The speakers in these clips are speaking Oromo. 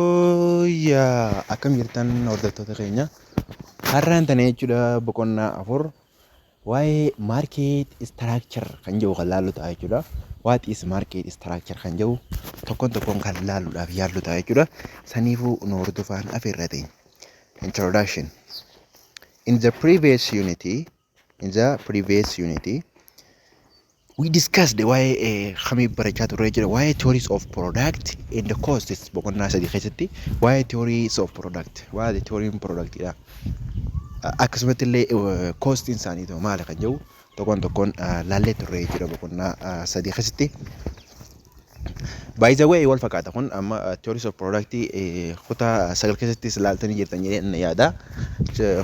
Yooyyaa akkam jirtan hordoftoota keenya har'aan tana jechuudha boqonnaa afur waa'ee maarkeet istiraakchar kan jedhu kan laallu ta'a jechuudha. Waat is maarkeet istiraakchar kan jedhu tokkoon tokkoon kan laalluudhaaf yaallu ta'a jechuudha. Saniifuu nu hordofaan afeerrateen. Introduction. In the previous unit, In the previous unit, we discussed waa'ee kamii barachaa turre jira waa'ee theories of product and costs boqonnaa sadii keessatti waa'ee theories of product waa'ee theory product dha. Akkasumatti illee cost isaanii ta'u maali kan jedhu tokkoon tokkoon laallee turre jira boqonnaa sadii keessatti. By the way wal fakkaata kun amma theories of product kutaa sagal keessattis ilaaltanii jirtan jedhee yaada.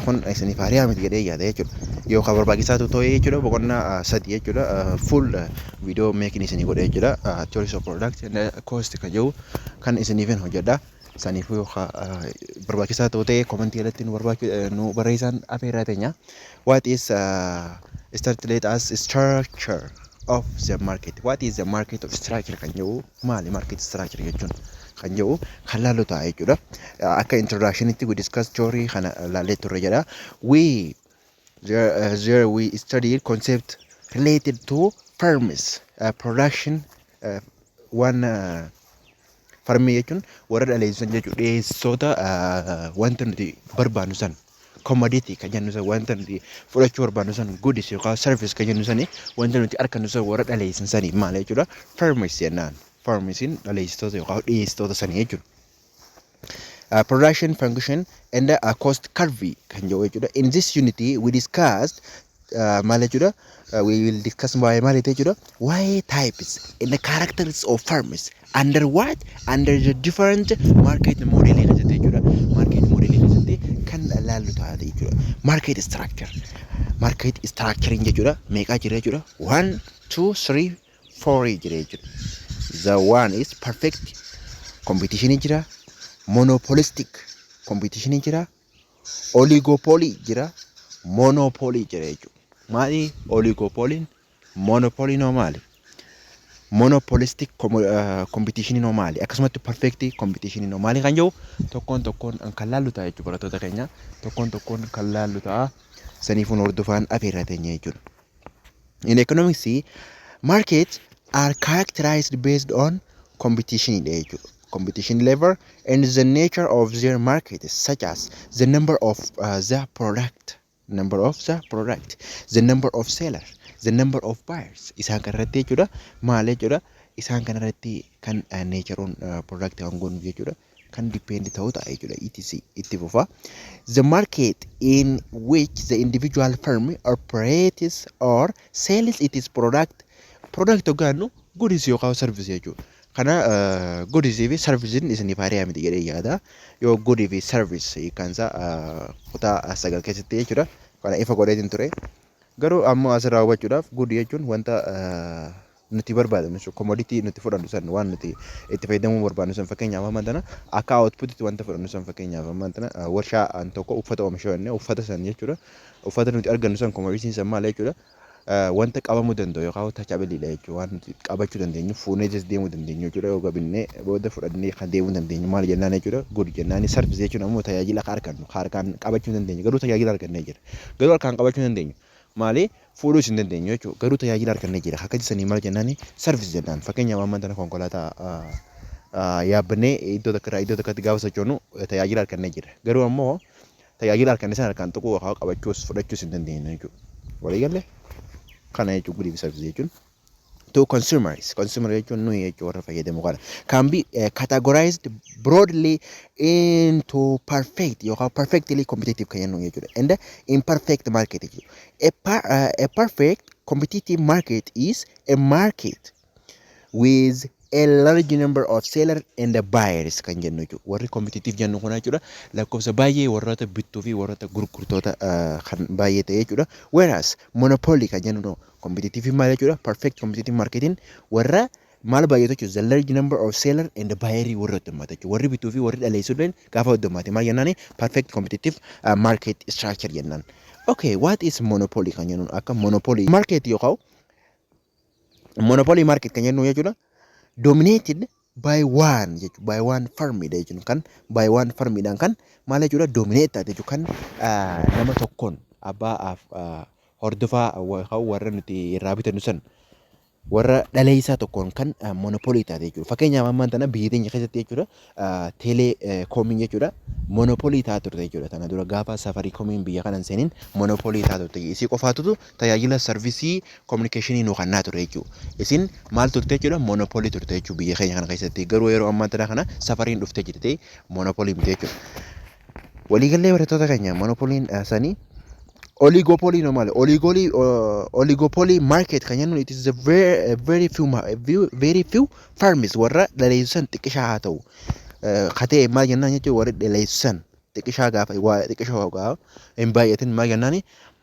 Kun isiniif haaraa miti jedhee yaada jechuudha. Yookaan barbaachisaa ta'e jechuudha boqonnaa sadi jechuudha full video making isinii godha jechuudha. Theories of product and cost kan jedhu kan isiniif hojjedha. Saniifuu yoo ka barbaachisaa ta'u ta'e komentii jalatti nu barbaachu nu barreessaan afeerraa teenya. What is uh, start let us structure of the market. What is the market of structure kan jedhu maali market structure jechuun kan jedhu kan laallu ta'a jechuudha. Uh, Akka introductionitti we discuss theory kana laallee turre jedha. We there, uh, there we studied concept related to firms uh, production uh, one uh, Farmii jechuun warra dhaleessu san jechuudha. Dhiyeessoota wanta nuti barbaannu san komoditii kan jennu san wanta nuti fudhachuu barbaannu san gudis yookaan sarvis kan jennu sani wanta nuti argannu san warra dhaleessan sani maal jechuudha farmis jennaan. Farmisiin dhaleessitoota yookaan dhiyeessitoota sani jechuudha. production function and uh, cost curve kan jedhu jechuudha in this unit we discussed uh, maal jechuudha uh, we will discuss waa'ee maal jette jechuudha waa'ee types and the characters of firms under what under the different market model keessatti jechuudha market model keessatti kan ilaallu ta'a jechuudha market structure market structuring jechuudha meeqaa jira jechuudha one two three Forii jira jechuudha. The one is perfect competition jira. Monopolistic competition jira. Oligopoly jira. Monopoly jira jechuudha. Maali oligopoliin? Monopoliin hoo maali? Monopolistic competition hoo maali? Akkasumatti perfect competition hoo maali kan jedhu tokkoon tokkoon kan laallu ta'a jechuudha barattoota keenya. Tokkoon tokkoon kan laallu ta'a. Saniifuu hordofaan afeerraa teenya jechuudha. in economics market are characterized based on competition dha jechuudha. Competition level and the nature of their market such as the number of uh, the product number of the product the number of seller the number of buyers isaan kan irratti jechuudha maal jechuudha isaan kan irratti kan uh, nature on uh, product kan goonu jechuudha. kan depend ta'u ta'a jechuudha etc itti fufa the market in which the individual firm operates or sells its product product hoggaannu goods yookaan service jechuudha kana goods fi service isiniif haaraa miti jedhee yaada yoo good fi service kan isaa kutaa sagal keessatti jechuudha kana ifa godheetiin ture garuu ammoo asirraa hubachuudhaaf good jechuun wanta nuti barbaadnu jechuudha. Komoditii nuti fudhannu san waan nuti itti fayyadamuu barbaadnu san fakkeenyaaf amma tana akka outputitti wanta fudhannu san fakkeenyaaf amma tana warshaa an tokko uffata oomisha jennee uffata san jechuudha. Uffata nuti argannu san komoditiin san maal jechuudha. Wanta qabamuu danda'u yookaan tachabiliidha jechuudha. Waan nuti qabachuu dandeenyu fuunee jas deemuu dandeenyu jechuudha. Yoo gabinnee booda fudhannee kan deemuu dandeenyu maal jennaan jechuudha. Good jennaan sarvis jechuun ammoo tajaajila akka argannu harkaan qabachuu dandeenyu garuu tajaajila argannee jira. Garuu harkaan qabachuu dandeenyu. Maali fuudhuus hin dandeenyu jechuudha. Garuu tajaajila argannee jira. Akka jessanii maal jennaani service jennaan. Fakkeenyaaf amma tana konkolaataa yaabbannee iddoo takka irraa iddoo takkatti gaafa sochoonu tajaajila argannee jira. Garuu ammoo tajaajila arganne sana harkaan tuquu yookaan qabachuus fudhachuus hin dandeenyu jechuudha. Walii galle kana jechuudha guddiif service jechuun. to consumers consumer jechuun nuyi jechuu warra fayyadamu kana can be uh, categorized broadly into perfect yookaan perfectly competitive kan jennu jechuudha and imperfect market jechuudha a, per, uh, a perfect competitive market is a market with a large number of seller and the buyers kan jennu jechuudha warri competitive jennu kun jechuudha lakkoofsa baay'ee warroota bittuu fi warroota gurgurtoota uh, kan baay'ee ta'e jechuudha whereas monopoly kan jennu Kompetitivii maal jechuudha? Perfect competitive marketing warra maal baay'atu jechuudha? The large number of seller and buyer warri heddummata jechuudha. Warri bituu fi warri dhaleessu illee gaafa heddummate maal jennaani? Perfect competitive uh, market structure jennaan. Okay, what is monopoly kan jennuun akka monopoly market yookaan monopoly market kan jennu jechuudha. Dominated by one jechuudha. By one firm dha jechuun kan by one firm dhaan kan maal jechuudha dominate taate jechuudha kan ah, nama tokkoon abbaa af- ah, hordofaa wa- kan warra nuti irraa bitannu san warra dhaleessaa tokkoon kan ah, monopoly taate jechuudha. Fakkeenyaaf ammaan tana biyya teenya keessatti jechuudha ah, teelee eh, koomiin jechuudha monopoly taate turte jechuudha. Tana dura gaafa safarii koomiin biyya kana hin seenin monopoly taate turte. Isii qofaatutu tajaajila sarvisii kominikeeshinii nu kannaa ture jechuudha. Isin maal turte jechuudha monopolii turte jechuudha biyya keenya kana keessatti garuu yeroo ammaa tana kana safariin dhufte jirti monopolii miti jechuudha. Waliigallee barattoota keenya monopoliin sanii oligopolii no maali oligoolii oligopolii market kan jennuun it is a very, very few ma- few- very few farms warra dhaleessan xiqqishaa haa ta'u. Eh, Ka ta'e maal jennaan jechuudha warri dhaleessan xiqqishaa gaafa waa xiqqishaa gaafa hin baay'atin maal jennaani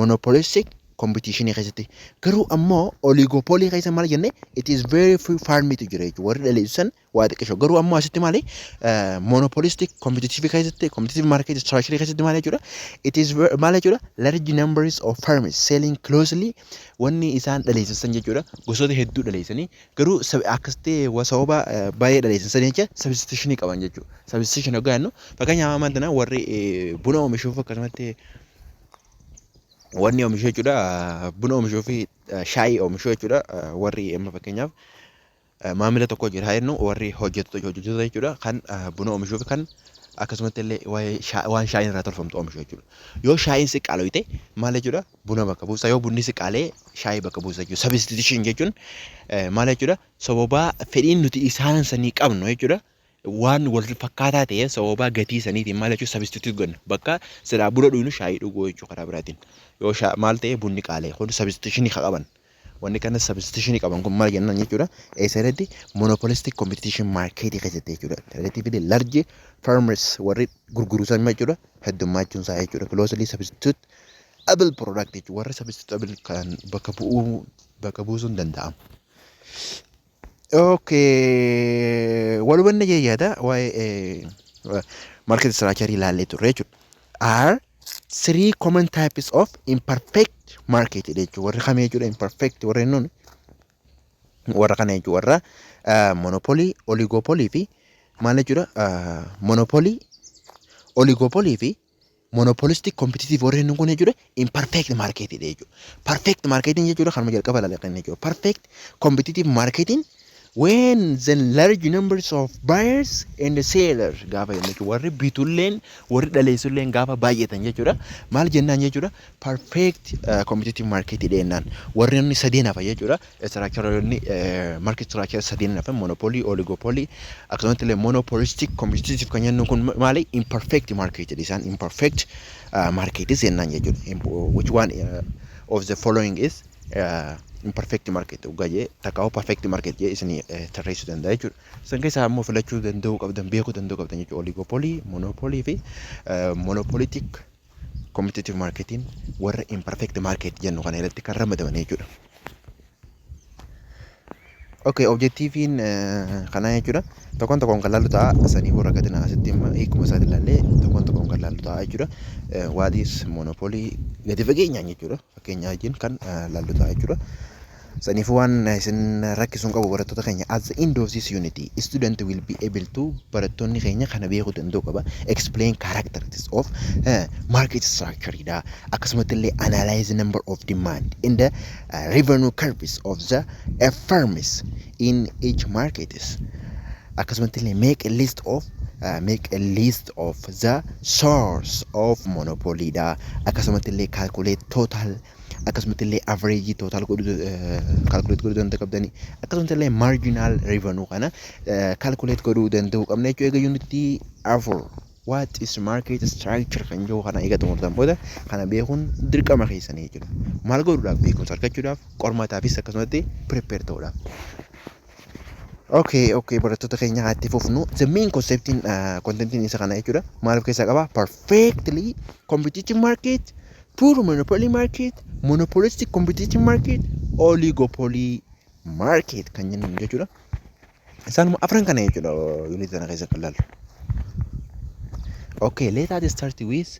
monopolistic competition keessatti garuu ammoo oligopoly keessa maal jenne it is very few farm tu jira jechuudha warri dhaleessu san waa xiqqisho garuu ammoo asitti maali monopolistic competitive keessatti competitive market structure keessatti maal jechuudha it is ver- maal jechuudha large numbers of farms selling closely wanni isaan dhaleessisan jechuudha gosoota hedduu dhaleessanii garuu sab- akkasitti wa- sababa eh, baay'ee dhaleessisan jecha substitutionii qaban jechuudha substitution hoggaa jennu fakkeenyaaf amma tana warri eh, buna oomishuuf akkasumatti wanni omishu jechuudha buna omishuu fi shaayii omishuu jechuudha warri amma fakkeenyaaf maamila tokko jira haa jennu warri hojjettoota hojjettoota jechuudha kan buna omishuu fi kan akkasumatti illee waa'ee shaa- waan shaayiin irraa tolfamtu omishu jechuudha yoo shaayiin si qaaloyte maal jechuudha buna bakka buusa yoo bunni si qaalee shaayii bakka buusa jechuudha substitution jechuun eh, maal jechuudha sababaa fedhiin nuti isaan sanii qabnu jechuudha waan wal fakkaataa ta'e sababaa gatii saniitiin maal jechuun substitute godhna bakka silaa buna dhugnu shaayii dhuguu jechuu karaa biraatiin yoo shaa maal ta'e bunni qaalee kun substitutionii ka qaban wanni kana substitutionii qaban kun maal jennaan jechuudha eessa irratti monopolistic competition market keessatti jechuudha relatively large farmers warri gurguruu san jechuudha heddummaachuun isaa jechuudha closely substitute able product jechuudha warri substitute able kan bakka bu'uu bakka buusuun danda'amu. Okay. Wal hubanne jee yaada waa'ee market structure ilaallee turre jechuudha. Are three common types of imperfect market jechuudha. Warri kami jechuudha imperfect warri nuun warra kana jechuudha warra ah, monopoly, oligopoly fi maal jechuudha ah, monopoly, oligopoly fi Monopolistic competitive warri jennu kun jechuudha imperfect market dha jechuudha. Perfect marketing jechuudha kanuma jalqaba ilaalle kan jechuudha. Perfect competitive marketing when the large numbers of buyers and seller gaafa jennu jechuudha. Warri bitulleen warri dhaleessulleen gaafa baay'atan jechuudha. Maal jennaan jechuudha perfect uh, competitive market dha jennaan. Warri inni sadeen hafa jechuudha. Istiraakcharoonni marki istiraakchara sadiin hafan monopolii, oligopolii akkasumatti illee monopolistic competitive kan jennu kun maali imperfect market isaan imperfect market jennaan jechuudha. Which one of the following is imperfect market dhugaa jee takka perfect market jee isin tarreessuu danda'a jechuudha. Isin keessaa immoo filachuu danda'uu qabdan beekuu danda'uu qabdan jechuudha. Oligopolii, monopolii fi monopolitic Commutative marketiin warra imperfect market jennu kana irratti kan ramadaman jechuudha. Okay, objektiiviin kanaa jechuudha. Tokkoon tokkoon kan laallu ta'a. Sanii booda akka dinaa asitti amma hiikuma isaati ilaallee tokkoon tokkoon kan laallu ta'a jechuudha. What is monopoly gadi fageenyaan jechuudha. fakkeenya wajjin kan laallu ta'a jechuudha. Saniifuu waan isin rakkisu hin qabu barattoota keenya at the end of this unit student will be able to barattoonni keenya kana beekuu danda'u qaba explain characteristics of uh, market structure dha akkasumatti illee analyze number of demand in the uh, revenue curves of the uh, firms in each markets Akkasumatti illee make a list of make a list of the source of monopoly dha. Akkasumatti illee calculate total akkasumatti illee average total godhu calculate godhu danda'u qabdani. Akkasumatti illee marginal revenue kana calculate godhu danda'u qabna jechuudha. Egaa unity afur what is market structure kan jiru kana egaa xumurtan booda kana beekuun dirqama keessanii jechuudha. Maal godhuudhaaf beekumsa argachuudhaaf qormaataafis akkasumatti prepare ta'uudhaaf. Okay, okay, barattoota keenya haa itti fufnu. The main conceptiin uh, contentiin isa kana jechuudha. Maal of keessaa qaba? Perfectly competitive market, poor monopoly market, monopolistic competitive market, oligopoly market kan jennu jechuudha. Isaanuma afran kana jechuudha unit kana keessa kan laallu. Okay, let us start with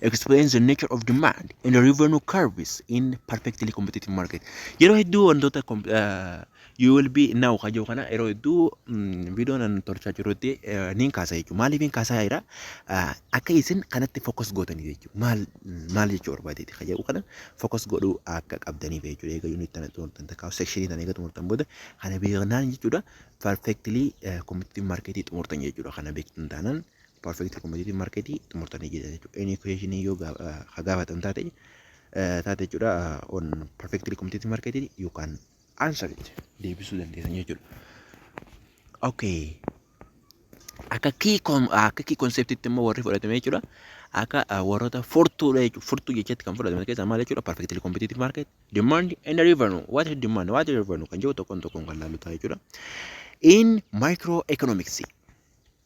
explains the nature of demand and the revenue curves in perfectly competitive market. Yeroo hedduu wantoota com- eh, you will be now kajoo kana yeroo hedduu mm, viidiyoo nan tolchaa jirutti eh, niin kaasaa jechuudha. Maaliif niin kaasaa jira? Ah, Akka isin kanatti focus gootaniif jechuudha. Maal maal jechuu barbaadeeti kajoo kana focus godhuu akka qabdaniif jechuudha. Egaa unit tana xumurtan takka section tana egaa xumurtan booda kana beeknaan jechuudha. Perfectly eh, competitive market xumurtan jechuudha. Kana beektan taanaan perfect competitive market xumurtanii jirtan jechuudha. Any question yoo ka gaafatan taate taate jechuudha on perfectly competitive market you can answer it deebisuu dandeessan jechuudha. Okay. Akka key com akka key concept itti immoo warri fudhatame jechuudha. Akka warroota furtuudha jechuudha. Furtuu jechatti kan fudhatame keessaa maal jechuudha? Perfectly competitive market, demand and revenue. What is demand? What is revenue? Kan jiru tokkoon tokkoon kan laalu ta'a jechuudha. In microeconomics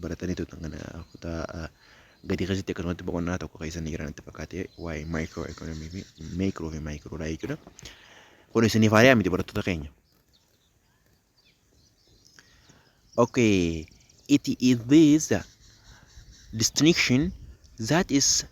baratanii turtan kana kutaa gadii keessatti akkasumatti boqonnaa tokko keessa ni jira natti fakkaate waa'ee maayikiroo ekonomii fi meekiroo fi maayikiroodha jechuudha. Kun isiniif haariyaa miti barattoota keenya. Okay, it is this distinction that is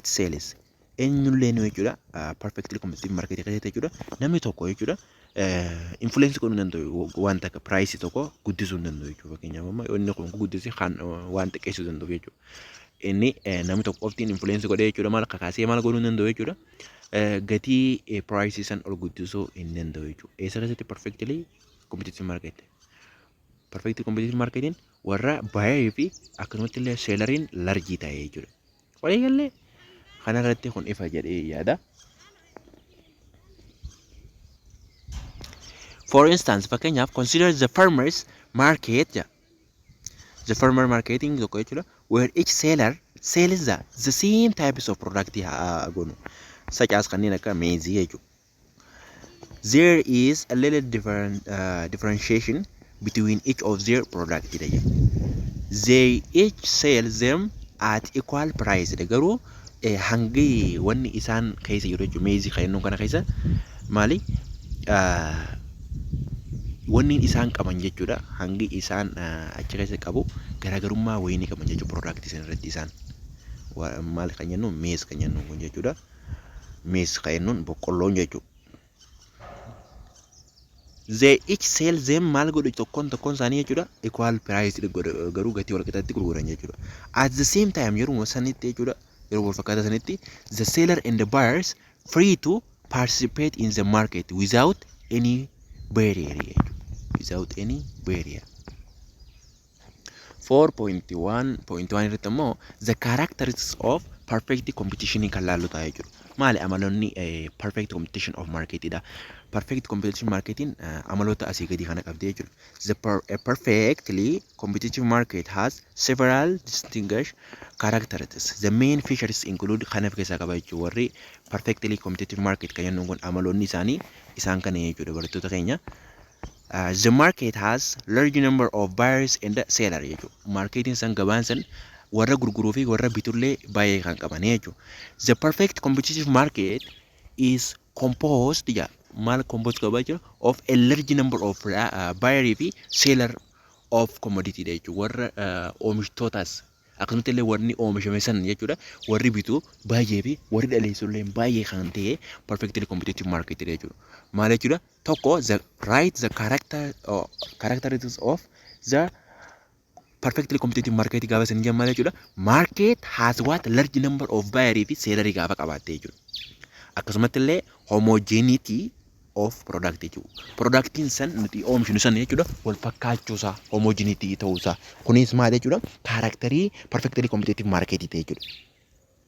it sells eenyullee nu jechuudha perfectly competitive market keessatti jechuudha namni tokko jechuudha influence godhuu danda'u waan takka price tokko guddisuu hin danda'u jechuudha fakkeenyaaf amma inni kun guddise kan waan xiqqeessuu danda'u jechuudha inni namni tokko qoftiin influence godhee jechuudha maal kakaasee maal godhuu hin danda'u jechuudha gatii price san ol guddisuu hin danda'u jechuudha eessa keessatti perfectly competitive market perfect competition marketing warra buyer fi akkanumatti illee selleriin larjii ta'e jechuudha. Walii gallee kanarratti kun ifa jedhee yaada. For instance, fakkeenyaaf consider the farmers market jedha. The farmer marketing tokko jechuudha. Where each seller sells the, the same types of product haa gonu. Such as kanneen akka meezii jechuudha. there is a little different, uh, differentiation between each of their product dha jedhu. they each sell them at equal price dha garuu eh, hangi wanni isaan keessa jiru jechuudha meezii kennuu kana keessa maali Ah, wanni isaan qaban jechuudha hangi isaan ah, achi keessa qabu garaagarummaa wayii ni qaban jechuudha product isan irratti isaan Wa- maal kan jennu meez kan jennu kun jechuudha. Miis ka ennuun boqqolloon jechu. They each sell them maal godhu tokkoon tokkoon isaanii jechuudha equal price garuu gatii wal qixatti gurguran jechuudha. At the same time yeruma sanitti jechuudha yeruma wal fakkaataa sanitti the seller and the buyers free to participate in the market without any barrier jechuudha. Without any barrier. 4.1.1 irratti immoo the characteristics of perfect competition kan laallu ta'a jechuudha. Maali amaloonni perfect competition of market dha. Perfect competition marketiin amaloota asii gadii kana qabdi jechuudha. The per, a perfectly competitive market has several distinguished characteristics. The main features include kan of keessaa qaba jechuudha. Warri perfectly competitive market kan jennuun kun amaloonni isaanii isaan kana jechuudha barattoota keenya. the market has large number of buyers and seller jechuudha. Markeetiin san gabaan san warra gurguruu fi warra bitullee baay'ee kan qaban jechuudha. The perfect competitive market is composed jedha. Maal composed qaba jechuudha? Of a large number of uh, buyer fi seller of commodity dha jechuudha. Warra uh, oomishtootaas akkasumatti illee warri oomishame san jechuudha. Warri bitu baay'ee fi warri dhaleessu illee baay'ee kan ta'e perfectly competitive market dha jechuudha. Maal jechuudha? tokko the write the character or characteristics of the perfectly competitive market gaafa isin jammata jechuudha. Market has what large number of buyer fi seller gaafa qabaatte jechuudha. Akkasumatti illee homogeneity of product jechuudha. Productiin san nuti oomishnu san jechuudha wal fakkaachuusaa homogeneity ta'uusaa. Kunis maal jechuudha? Kaaraakterii perfectly competitive market ta'e jechuudha.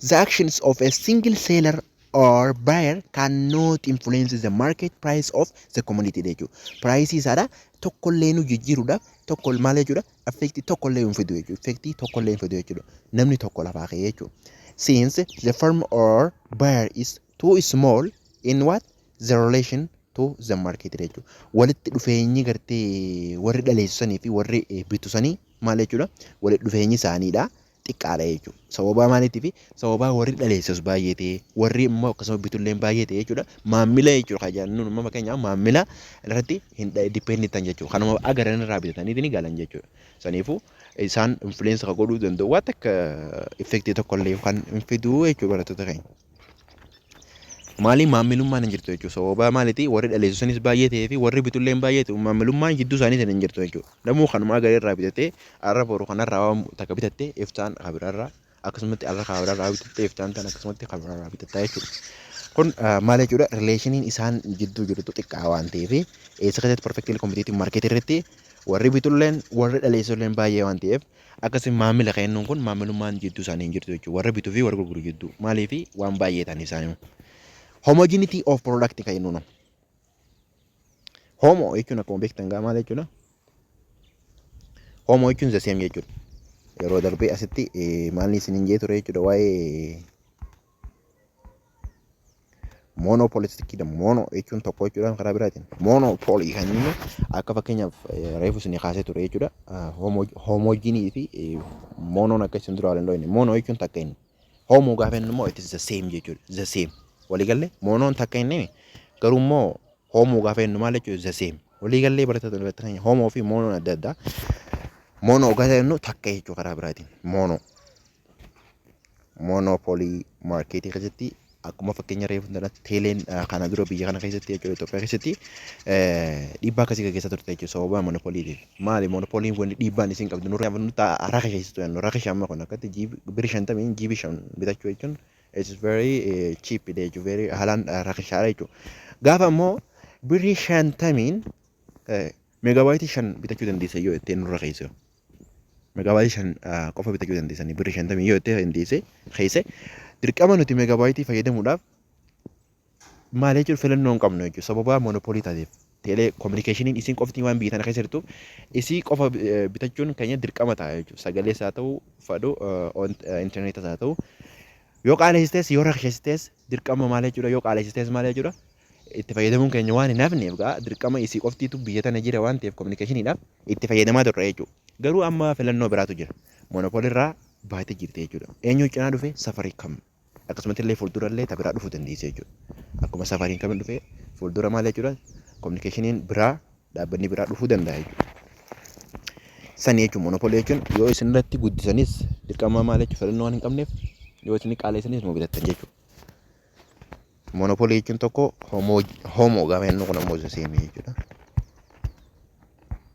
The actions of a single seller or buyer cannot influence the market price of the commodity jechuudha. Piraayisii isaadha tokkollee nu jijjiiruudhaaf tokko maal jechuudha affeektii tokkollee hin fidu jechuudha. Affeektii tokkollee hin fidu jechuudha. Namni tokko lafaa ka'ee jechuudha. Since the firm or buyer is too small in what the relation to the market jechuudha. Walitti dhufeenyi gartee warri dhaleessanii fi warri bitusanii maal jechuudha walitti dhufeenyi isaaniidha. xiqqaadha jechuudha. Sababaa maaliitiifi sababaa warri dhaleessus baay'ee ta'e warri immoo akkasuma bitulleen baay'ee ta'e jechuudha. Maammila jechuudha kan jedhan nuun uumama keenya maammila irratti hin dipendi ta'an jechuudha. Kanuma agaran irraa bitataniiti ni galan jechuudha. Saniifuu isaan influence kan godhuu danda'u waan takka effectii tokkollee kan hin fiduu jechuudha barattoota keenya. Maaliin maammilummaan hin jirtu jechuudha. Sababa maaliitii warri dhaleessu sanis baay'ee ta'ee fi warri bitullee hin baay'ee ta'u maammilummaan jidduu isaanii sana hin jirtu jechuudha. Namuu kanumaa garee irraa bitatee arra boru kanarraa waan takka bitattee iftaan kabirarraa akkasumatti arra kabirarraa bitattee iftaan tan akkasumatti kabirarraa bitattaa jechuudha. Kun maal jechuudha rileeshiniin isaan jidduu jirtu xiqqaa waan ta'eef eessa keessatti perfectly competitive market irratti warri bitulleen warri dhaleessulleen baay'ee waan ta'eef Akkasiin maamila keennuun kun maamilummaan jidduu isaanii hin jirtu jechuudha. Warra bituu fi warra gurguru jidduu. Maaliif waan baay'ee ta'an isaanii. Homogeneity of product kan jennuun. Homo jechuun akkuma beektan gaa maal jechuudha? Homo jechuun the same jechuudha. Yeroo darbee asitti maalni isin hin jee ture jechuudha waa'ee Moonoo poolisitti da moonoo jechuun tokko jechuudhaan karaa biraatiin moonoo poolii kan jennu akka fakkeenyaaf reefu isin kaasee ture jechuudha. Hoomoojiinii fi moonoon akka isin dura waliin dhooyne moonoo jechuun takka inni. Hoomoo gaafa inni immoo itti zaseem jechuudha. Zaseem waliigallee moonoon takka inni garuu immoo hoomoo gaafa inni maal jechuudha zaseem. Waliigallee barattoota irratti kan hoomoo fi moonoon adda addaa. Moonoo gaafa inni takka jechuudha karaa biraatiin moonoo. monopoly market keessatti akkuma fakkeenya reefu jalatti teeleen kana dura biyya kana keessatti jechuudha Itoophiyaa keessatti dhiibbaa akkasii gaggeessaa turte jechuudha sababa monopoliitiin. Maali monopoliin wanni dhiibbaan isin qabdu nurra yaabnu ta'a raka keessattuu yannu raka shamma kun akkatti jiibi biri shantamiin jiibi shan bitachuu jechuun it's very cheap jechuudha very haalaan raka shaara jechuudha. Gaafa immoo birrii shantamiin meegaabaayiti shan bitachuu dandeessa yoo ittiin nurra keessa Megabyte 5 qofa bitachuu dandeessanii birri 50 yoo itti dandeesse keesse dirqama nuti megabyte fayyadamuudhaaf maal jechuun filannoo hin qabnu jechuudha sababa monopolii taateef teelee kominikeeshiniin isin qofti waan biyya tana keessa jirtuuf isii qofa bitachuun keenya dirqama ta'a jechuudha sagalee isaa ta'uu fadhu intarneetas haa ta'u yoo qaaleessistees yoo rakkeessistees dirqama maal jechuudha yoo qaaleessistees maal jechuudha itti fayyadamuun keenya waan hin hafneef gaa dirqama isii qoftiitu biyya tana jira waan ta'eef kominikeeshiniidhaaf itti fayyadamaa turre jechuudha. Garuu amma filannoo biraatu jira. Monopoly irraa baatee jirti jechuudha. Eenyu cinaa dhufe safarii kam akkasumatti illee fuuldura illee ta biraa dhufuu dandeessi jechuudha. Akkuma safariin kamin dhufe fuuldura maal jechuudha kominikeeshiniin biraa dhaabbanni biraa dhufuu danda'a jechuudha. Sani jechuun monopoly jechuun yoo isin irratti guddisanis dirqama maal jechuudha filannoo waan hin qabneef yoo isin qaaleessanis nuu bitattan jechuudha. Monopoly jechuun tokko homo homo gaafa jennu kun ammoo isa seemii jechuudha.